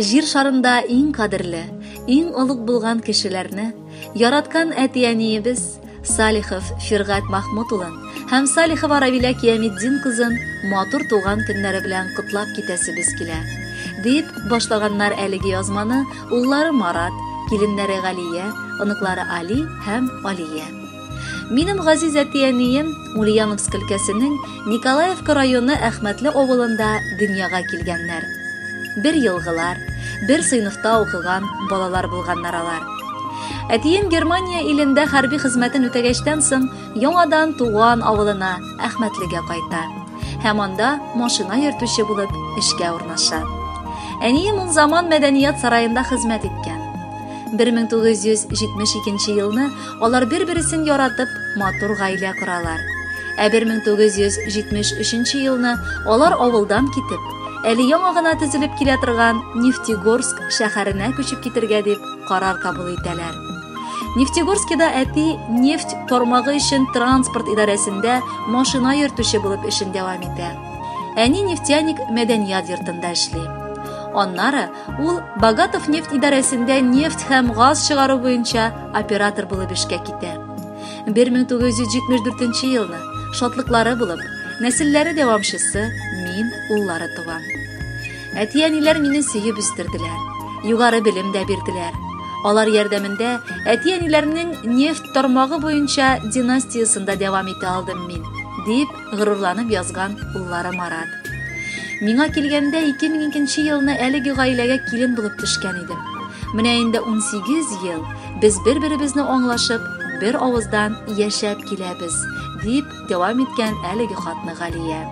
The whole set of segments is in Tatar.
Җир шарында иң кадерле, иң олуг булган кешеләрне яраткан әти-әниебез Салихов Фиргать Махмут улын һәм Салихова Равилә Киямитдин кызын матур туган көннәре белән котлап китәсебез килә. Дип башлаганнар әлеге язманы уллары Марат, киленнәре Галия, оныклары Али һәм Алия. Минем газиз әти-әнием Ульяновск өлкәсенең Николаевка районы Әхмәтле авылында дөньяга килгәннәр. Бер елгылар, бер сыйныфта укыган балалар булганнар алар. Әтием Германия илендә хәрби хезмәтен үтәгәчтән соң, яңадан туган авылына, Әхмәтлегә кайта һәм анда машина йөртүче булып эшкә урнаша. Әнием ул заман мәдәният сараенда хезмәт иткән. 1972 елны Алар бер-бересен яратып, матур гаилә коралар. Ә 1973 елны алар авылдан китеп, әле яңа гына төзелеп килә торган Нефтегорск шәһәренә күчеп китергә дип карар кабул итәләр. Нефтегорскида әти нефть тармагы өчен транспорт идарәсендә машина йөртүче булып эшен дәвам итә. Әни нефтяник мәдәният йортында эшли. Аннары Ул Богатов нефть идарәсендә нефть һәм газ чыгару буенча оператор булып эшкә китә. 1974 елны шатлыклары булып, нәселләре дәвамчысы мин уллары туам. Әти-әниләр мине сөеп үстерделәр. Югары белем дә бирделәр. Алар ярдәмендә әти-әниләрнең нефть тармагы буенча династиясендә дәвам итә алдым мин, дип горурланып язган уллары Марат. Миңа килгәндә 2002 елны әлеге гаиләгә килен булып төшкән идем. Менә инде 18 ел без бер-беребезне аңлашып, бер авыздан яшәп киләбез, дип дәвам иткән әлеге хатны Галия.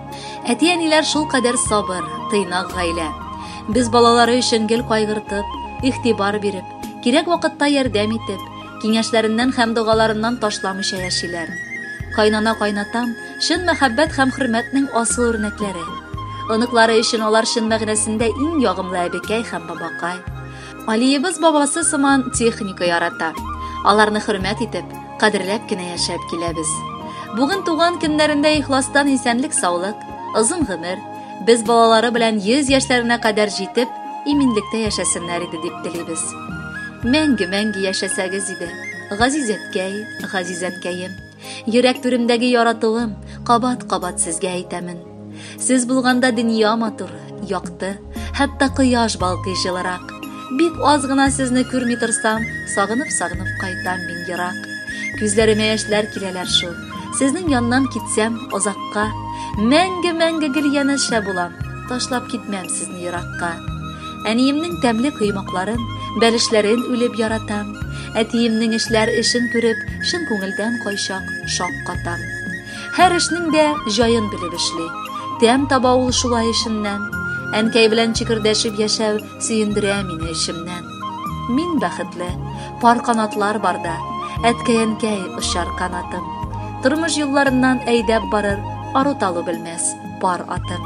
Әти-әниләр шул кадәр сабыр, тыйнак гаилә. Без балалары өчен гел кайгыртып, игътибар биреп, кирәк вакытта ярдәм итеп, Киңәшләреннән һәм догаларыннан ташламыйча яшиләр. Кайнана кайнатам, чын мәхәббәт һәм хөрмәтнең асыл үрнәкләре. Оныклары өчен алар чын мәгънәсендә иң ягымлы әбекәй һәм бабакай. Алиебыз бабасы сыман техника ярата. Аларны хөрмәт итеп, кадерләп кенә яшәп киләбез. Бүген туган көннәрендә ихластан исәнлек саулык, озын гомер, без балалары белән 100 яшьләренә кадәр җитеп, иминлектә яшәсеннәр иде дип телибез. Мәңге мәңге яшәсәгез иде, газиз әткәй, газиз әткәем. Йөрәк түремдәге яратуым, кабат-кабат сезгә әйтәмен. Сез булганда дөнья матур, якты, хәтта кояш балкый җылырак. Бик аз гына сезне күрми торсам, сагынып-сагынып кайтам мин ерак. Күзләремә яшьләр киләләр шул. Сезнең яннан китсәм озакка, мәңге-мәңге гел янәшә булам, ташлап китмәм сезне еракка. Әниемнең тәмле коймакларын, бәлешләрен үлеп яратам. Әтиемнең эшләр эшен күреп, чын күңелдән кайчак шак катам. Һәр эшнең дә җаен белеп эшли. Тәм таба ул шулай эшеннән. Әнкәй белән чикердәшеп яшәү сөендерә мине эчемнән. Мин бәхетле, пар канатлар барда, әткәй-әнкәй очар канатым. Тормыш юлларыннан әйдәп барыр, ару-талу белмәс пар атым.